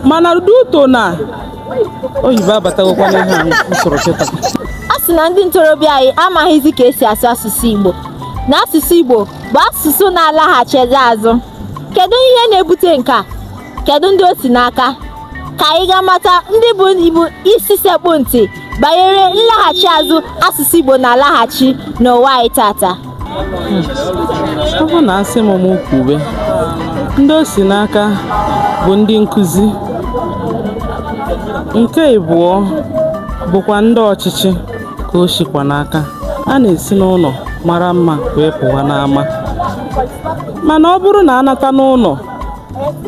mana due to na oyibo abatagokwa n'ihe a usoro kịta a sị na ndị ntorobịa anyị amaghịzi ka esi asụ asụsụ Igbo na asụsụ Igbo bụ asụsụ na-alaghachizi azụ kedu ihe na-ebute nke a kedu ndị o si n'aka ka anyị ga mata ndị bụ ibu isi sekpụ ntị banyere nlaghachi azụ asụsụ Igbo na-alaghachi n'ụwa anyị tata ọ bụ na a sị m m kwube ndị o si n'aka bụ ndị nkụzi nke ịbụọ bụkwa ndị ọchịchị ka o sikwa n'aka a na-esi n'ụlọ mara mma wee pụwa n'ama mana ọ bụrụ na a nata n'ụlọ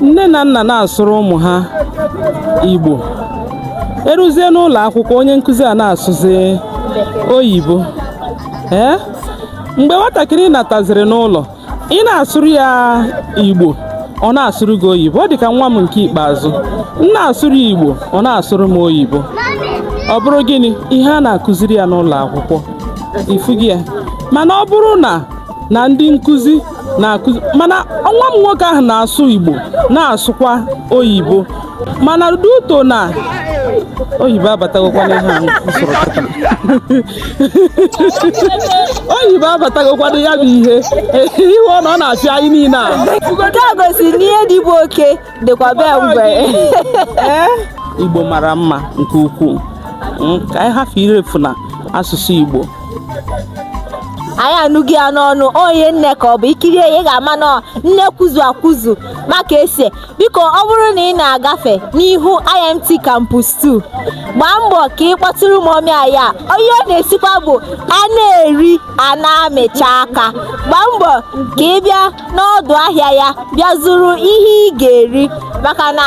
nne na nna na-asụrụ ụmụ ha igbo e ruzie n'ụlọ akwụkwọ onye nkụzi a na-asụzi oyibo ee mgbe nwatakịrị nataziri n'ụlọ ị na-asụrụ ya igbo ọ na-asụrụ gị oyibo ọ dị ka nwa m nke ikpeazụ m na-asụrụ ya igbo ọ na-asụrụ m oyibo ọ bụrụ gịnị ihe a na-akụziri ya n'ụlọ akwụkwọ ị fụghị ya mana ọ bụrụ na na ndị nkụzi na-akụzi mana nwa m nwoke ahụ na-asụ Igbo na-asụkwa oyibo mana due to na oyibo abatagokwa n'ihe a usoro kịta oyibo abatagokwa ya bụ ihe ihe ọ na ọ na-afịa anyị niile a nke a gosiri na ihe dị be oke dịkwa be ngwere igbo mara mma nke ukwuu hmm, ka anyị hafụ irefu na asụsụ igbo anyị anụghị ya n'ọnụ onye nne ka ọ bụ i kirie ya ị ga-ama na nne kwuzu akwuzu maka ese biko ọ bụrụ na ị na-agafe n'ihu IMT Campus 2 gbaa mbọ ka ị kpọtụrụ mummy anyị a ihe ọ na-esikwa bụ a na-eri a na-amịcha aka gbaa mbọ ka ị bịa n'ọdụ ahịa ya bịa zụrụ ihe ị ga-eri maka na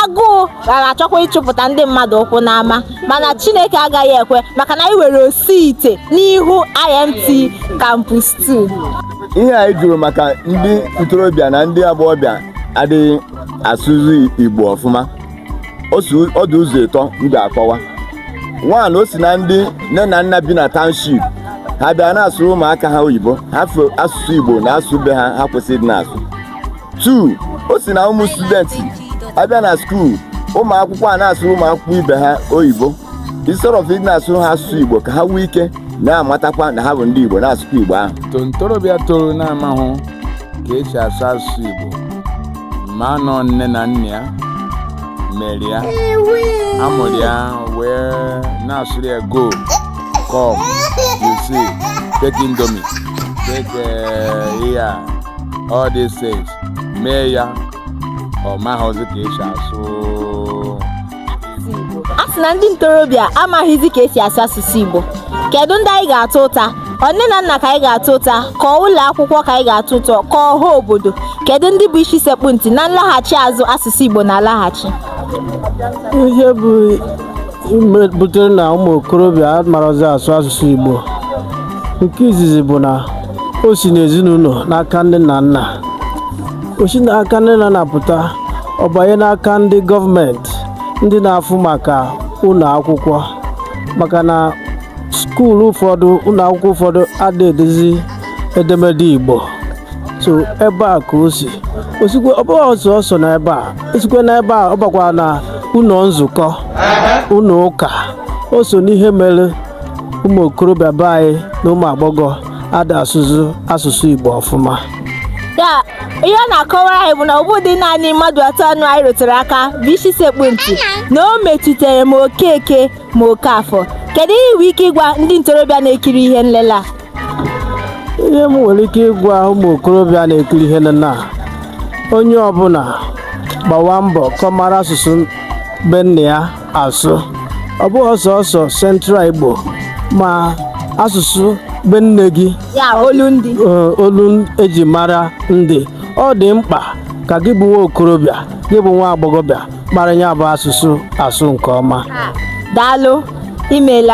agụụ gara achọkwa ịchụpụta ndị mmadụ ụkwụ n'ama mana Chineke agaghị ekwe maka na anyị nwere osi ite n'ihu IMT Campus 2 ihe anyị jụrụ maka ndị ntorobịa na ndị agbọghọbịa adịghị asụzi Igbo ọfụma ọ dị ụzọ ịtọ m ga-akọwa one o si na ndị nne na nna bi na township ha abịa na-asụrụ ụmụaka ha oyibo hafụ asụsụ igbo na asụsụ be ha ha kwesịrị ịdị na-asụ two o si na ụmụ student abịa na school ụmụ akwụkwọ a na-asụrụ ụmụ akwụkwọ ibe ha oyibo instead of ịdị na-asụrụ ha asụsụ igbo ka ha nwee ike na-amatakwa na ha bụ ndị igbo na-asụkwa igbo ahụ to ntorobịa toro na-amahụ ka esi asụ asụsụ igbo mana ọ nne na nna ya mere ya ha mụrụ ya wee na-asụrụ ya go come you see take indomie take eh, ihe a all these things mee ya ọ maghịzi ka esi asụ a sị na ndị ntorobịa amaghịzi ka esi asụ asụsụ Igbo kedu ndị anyị ga-atụ ụta ọ nne na nna ka anyị ga-atụ ụta ka ọ ụlọ akwụkwọ ka anyị ga-atụ ụta ka ọ ọha obodo kedu ndị bụ isi sekpu ntị na nlaghachi azụ asụsụ Igbo na-alaghachi ihe bụ butere na ụmụ okorobịa amarazi asụ asụsụ Igbo nke izizi bụ na o si n'ezinụlọ n'aka nne na nna o si n'aka nne na nna pụta ọ banye n'aka ndị gọọmenti ndị na-afụ maka ụlọ akwụkwọ maka na skuul ụfọdụ ụlọ akwụkwọ ụfọdụ ada edezi edemede igbo so ebe a ka o si o sikwe ọ bụghị sọọsọ na ebe a o sikwe na ebe a ọ bakwa na ụlọ nzukọ ụlọ ụka o so n'ihe mere ụmụ okorobịa be anyị na ụmụ agbọghọ ada asụzi asụsụ Igbo ọfụma ya ihe ọ na-akọwara anyị bụ na ọ bụghị naanị mmadụ atọ ahụ anyị rụtụrụ aka bụ isi sekpu ntị na o metụtara ma okeke ma okafọ kedu ihe i nwe ike ịgwa ndị ntorobịa na-ekiri ihe nlele a ihe m nwere ike ịgwa ụmụ okorobịa na-ekiri ihe nlele a onye ọbụla gbawa mbọ ka ọ mara asụsụ be nna ya asụ ọ bụghị sọọsọ central igbo ma asụsụ be nne gị ya olu ndị eh, olu eji mara ndị ọ dị mkpa ka gị bụ nwa okorobịa gị bụ nwa agbọghọbịa mara ya bụ asụsụ asụ nke ọma daalụ imela